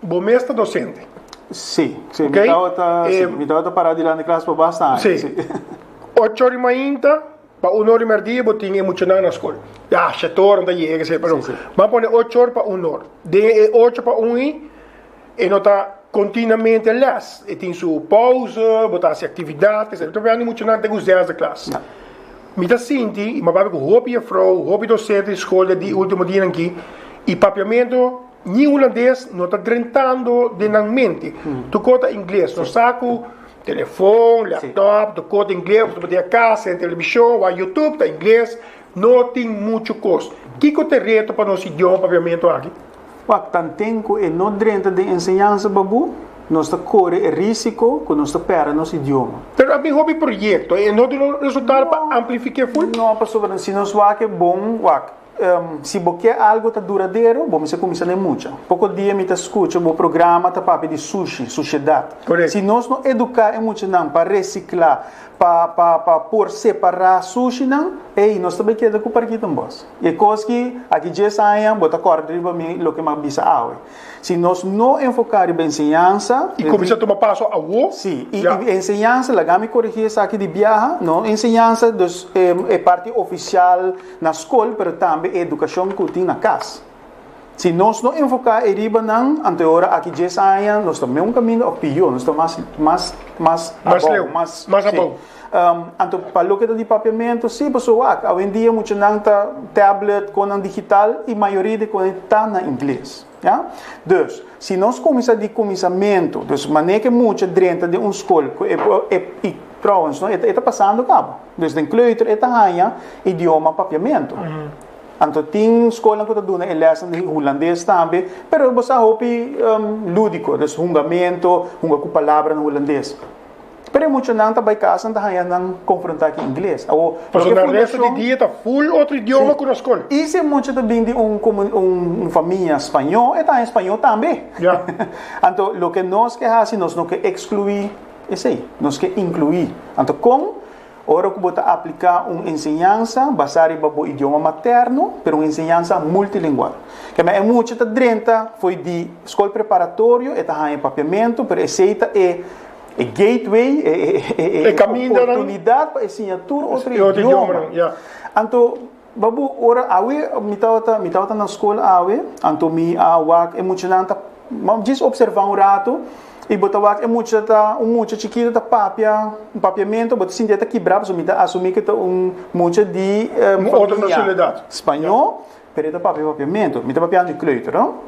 Bo mes ta docente? Sí, sí. Okay. Mi tabata, eh, sí. Mi tabata para delante clase por bastante. Sí. sí. Ocho horas mainta, pa un hora merdia, bo tin e muchanan na school. Ja, shetoran ta llega, sí, pero. Sí, sí. Ma pone ocho horas pa un hora. Den e ocho pa un i, E no ta continuamente les, e tin su pause, bo ta haci actividad, etc. Todavia no muchanan ta gusta desde klas. Mi ta sinti, y mi a papia cu hopi juffrouw, hopi docente di school den e ultimo dianan aki, e papiamento ni un landés no ta drentando den nan mente. Tokor ta ingles, nos sa cu telefoon, laptop, tokor ta ingles, bo ta mete a cas, senta television, wak youtube, ta ingles, no tin mucho cos. Kico ta e reto pa nos idioma papiamento aki? Wak ta nten ku e no drenta den enseñansa babu, nos ta kore e risiko ku nos ta pèrdè nos idioma. Pero a bin hopi proyekto, e no duna resultado pa amplifik'é ful? No, pasobra si nos wak'é bon, wak, si bo ke algu ta duradero, bo mester kuminsá den mucha. Poko dia mi ta skucha bo programa ta papia di sushi, sushedat. Si nos no eduká e muchanan pa resiklá, pa por separá sushinan, ey, nos ta bai keda ku parkita n'bos. I e kos ki aki dies aña bo ta kòrda riba mi loke mi a bisa awe. Si nos no enfoká riba enseñansa, I kuminsá tuma paso awo. Sí, i enseñansa, laga mi korigí esaki di biaha, no enseñansa dus e parti ofisial na skol pero tambe e edukashon ku tin na kas. Si nos no enfoká e riba nan, anto e ora aki dies aña nos ta meun kaminda òf pior, nos ta mas abou, mas. Anto pa loke ta di papiamentu si paso wak awendia muchanan ta tablet konan digital y mayoria di konan ta na ingles ya dus si nos kuminsa di kuminsamentu dus mane ke mucha drenta den un skol ku y trouwens no e ta pasando kaba dus den kleuter e ta haña idioma papiamentu anto tin skolan ku ta duna e lèsnan di hulandes tambe pero bo sa hopi lúdiko dus hungamento hunga ku palabranan hulandes. Pero e muchanan ta bai casa ta haya nan confronta cu ingles. Awo, Paso na resto di dia ta full otro idioma sí. cu nos con. Y si e mucha ta bin di un, un famia spaño, e ta haya spaño tambe. Ya. Anto, loke nos ke haci, nos no ke exclui esey. Nos ke inclui. Anto, con? Ora cu bo ta aplica un enseñansa basa riba bo idioma materno, pero un enseñansa multilingual. Kemey e mucha ta drenta foey di scol preparatorio, e ta haya e papiamento, pero esey ta e. E gateway, e oportunidad pa e siña tur otro idioma. Anto, baboe, ora awe mi tabata na skol awe, anto mi a wak e muchanan ta, bo a djis opservá un ratu, i bo ta wak e mucha ta, un mucha chikitu ta papia, un papiamentu, bo ta sinti e ta kibrá pasobra mi ta asumí ku e ta un mucha di familia spañó, pero e ta papia papiamentu. Mi ta papiando di kleuter, no?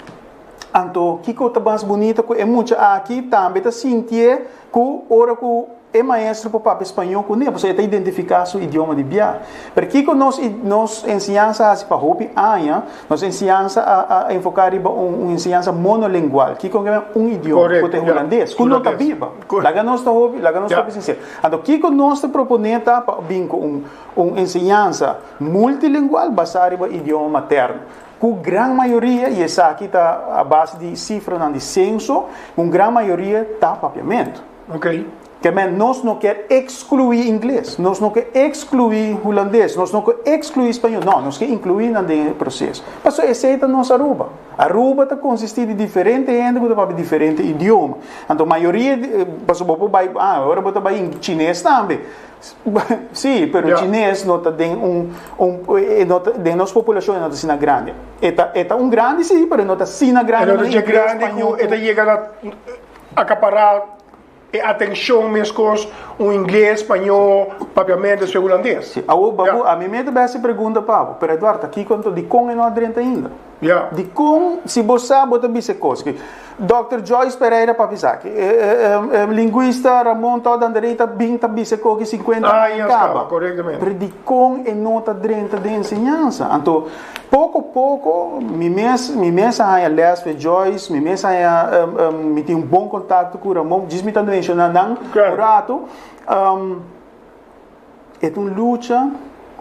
Anto, kiko ta mas bunita ku e mucha aki tambe ta sintié ku ora ku e maestro por papia spañó kuné, pasobra e ta identifiká su idioma di bia? Pero kiko nos nos enseñansa a hasi pa hopi aña? Nos enseñansa a a enfoká riba un un enseñansa monolingual. Kiko ke mester un idioma? Korekto, ya. Ku ta e hulandes, ku no ta Hulandes. biba. Korekto. Laga nos ta hopi, laga nos ta Ya. hopi sinsero. Anto, kiko nos ta proponé ta pa bin ku un un enseñansa multilingual basá riba idioma materno? Ku gran mayoria, i esaki ta a base di sifranan di senso, un gran mayoria ta Papiamentu. Ok. Kèmen nos no kèr ekskluí ingles, nos no ke ekskluí hulandes, nos no ke ekskluí spañol, no, nos ke inkluí nan den e proseso. Paso esei ta nos Aruba. Aruba ta konsistí di diferente hende ku ta papia diferente idioma. Anto mayoria, paso bo por bai, ah, ora bo ta bai chines tambe. Sí, pero yeah. Chinees no ta den un, un eh, eh, no ta, den nos populacion no ta sina grande. Eta eta un grande sí, pero no ta sina grande. No ta grande, español, eta llega a acaparar e atención mescos un inglés, español, papiamento, después holandés. Sí. Awo, babu, yeah. a mí me te beste pregunta, papo, pero Eduardo, aquí conto di con e no adrenta ainda. Dikon si bo sa bo ta bisa e kos ki Dòkter Joyce Pereira pa bisa aki? E linguista Ramon Todd Anderey ta bin ta bisa e kos ki sinkuenta anu kaba. Pero dikon e no ta drenta den enseñansa? Anto poko poko mi mes mi mes a haña lès for Joyce, mi mes a haña mi tin un bon kontakto ku Ramon, djis mi ta menshona nan un ratu. E ta un lucha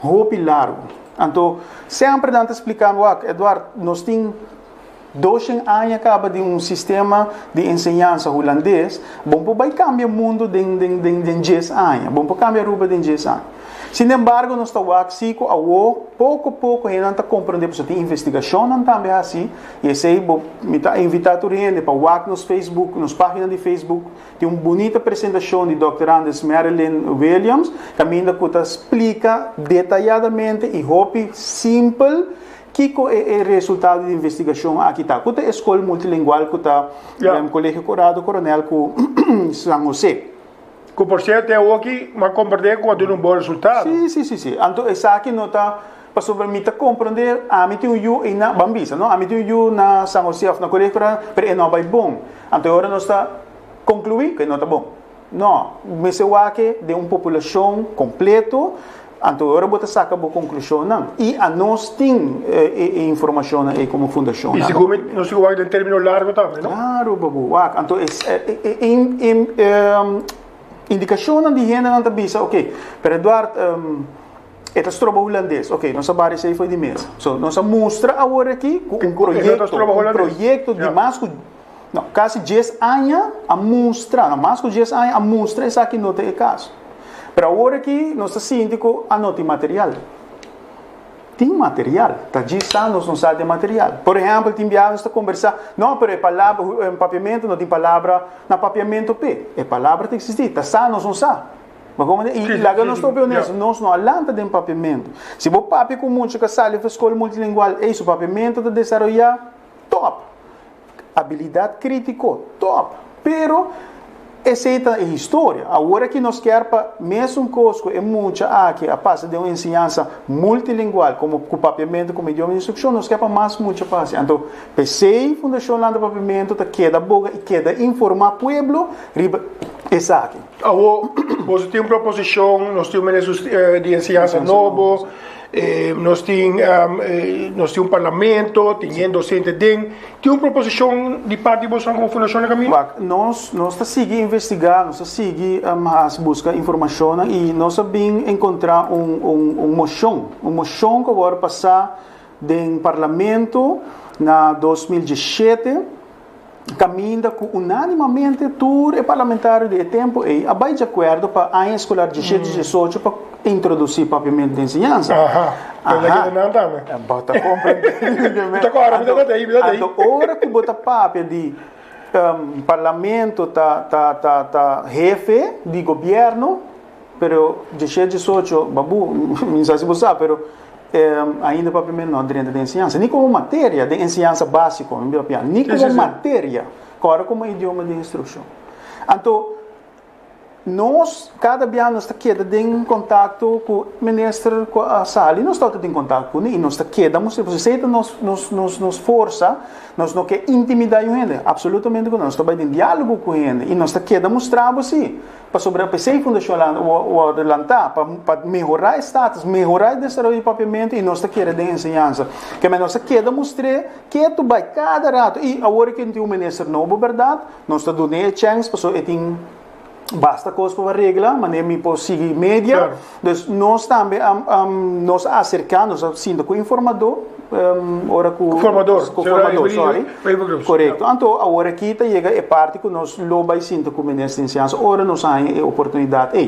hopi largu. Anto, semper nan ta spliká mi, wak, Edward, nos tin doshen aña kaba den un sistema di enseñansa hulandes, bo no por bai kambia mundu den, den, den, den djes aña, bo no por kambia Aruba den djes aña. Sinembargo, nos ta wak sí ku awo, poko, poko hendenan ta komprondé pasobra tin investigashonnan tambe hasi, i esei bo, mi ta invitá tur hende pa wak nos facebook, nos página di facebook, Tin un bunita presentacion di Dòkter Anders Marilyn Williams caminda cu ta splica detayadamente y hopi simpel kico e e resultado di investigacion aki ta, cu ta e scol multilingual cu ta den Colegio Corrado Coronel cu San Jose. Cu por cierto e awoki m'a comparti cu a duna un bon resultado. Sí, sí, sí, sí. Anto esaki no ta. Pasobra mi ta komprondé, ami tin un yu eina, ban bisa, no, ami tin un yu na San Hosé òf na Kolegio Coronel, pero e no a bai bon. Anto e ora nos ta konkluí ku e no ta bon? No. Mester wak-e den un populashon kompleto, anto e ora bo ta saka bo konklushonnan. I anos tin e informashonnan ei komo fundashon. I sigur mi nos tin ku wak den término largo tambe, no? Klaru pa bo wak. Anto e indikashonnan di hendenan ta bisa, Oke, pero Eduard, E ta stroba hulandes. Ok, nos a bari esei foi di mesa. So, nos a mustra awor aki ku un proyekto, un proyekto di mas ku no, kasi 10 aña a mustra, no, mas ku 10 aña a mustra esaki no ta e kas. Pero awor aki nos ta sinti ku a no tin material. Tin material, ta 10 aña nos no sa den material. Por ehempel, tin biaha nos ta kombersá, no, pero e palabra, papiamentu no tin palabra na papiamentu p'e. E palabra ta eksistí, ta sa, nos no sa. Ma como e okay, laga nos topi honesto, yeah. nos no a lanta den papiamento. Si bo papi con mucho que sale van school multilingual, ei, su papiamento te desarrolla top. Habilidad crítico, top. Pero, esa es la historia. Ahora que nos quer pa mes un cosco, e mucha aquí a pasa de una enseñanza multilingual, como con papiamento, como idioma de instrucción, nos quer pa más mucha pase. Entonces, PCI, Fundación Landa Papiamento, te queda boga y queda informar pueblo riba esa aquí. Awo boso tin un proposicion, nos tin un minister di enseñansa nobo, nos tin nos tin un parlamento, tin hende docente den, tin un proposicion di parti di bosonan como fundacionnan caminda? Bak, nos nos ta sigui investiga, nos ta sigui haci busca informacionnan y nos a bin encontra un un mocion, un mocion cu a wor pasa den parlamento na dos mil diesishete, Caminda cu unánimamente tur e parlamentario di e tempo ey a bay djacuerdo pa aña escolar dieschete, diesocho pa introduci papiamento di enseñansa. Aha, pero no hay que nan tambe. Bo ta comprende. Mi ta corre, mi ta ta tey, mi ta tey. Anto ora cu bo ta papia di parlamento ta, ta, ta, ta hefe di gobierno, Pero dje shea dje socho, babu, mi no sa si bo sa, pero ainda papia no drenta den enseñansa, ni como materia den enseñansa básico, mi papia, ni como materia, kora como idioma den instruccion. Anto, nos cada bia nos ta keda den contacto cu minister cu a sali, nos ta otro den contacto cune y nos ta keda mester, pasobra esey ta nos nos nos nos forsa, nos no ke intimida un hende, absolutamente que no, nos ta bay den dialogo cu hende y nos ta keda mustrabo si. Pasobra p'esei Fundashon Land wòrdu lantá pa mehorá e status, mehorá e desaroyo di Papiamentu i nos ta kere den enseñansa. Kemey, nos a keda mustr'é ketu bai kada ratu i awor ku tin un minister nobo, bèrdat, nos ta dun'é e chèns pasobra e tin basta kos pa bo a regla, manera mi por sigui media. Pues nos tambe a nos a acerca nos a sinta cu informador ora cu formador cu formador sorry correcto anto awor aki ta yega e parti cu nos lo bay sinta cu minister de enseñanza ora nos a haña e oportunidad ey.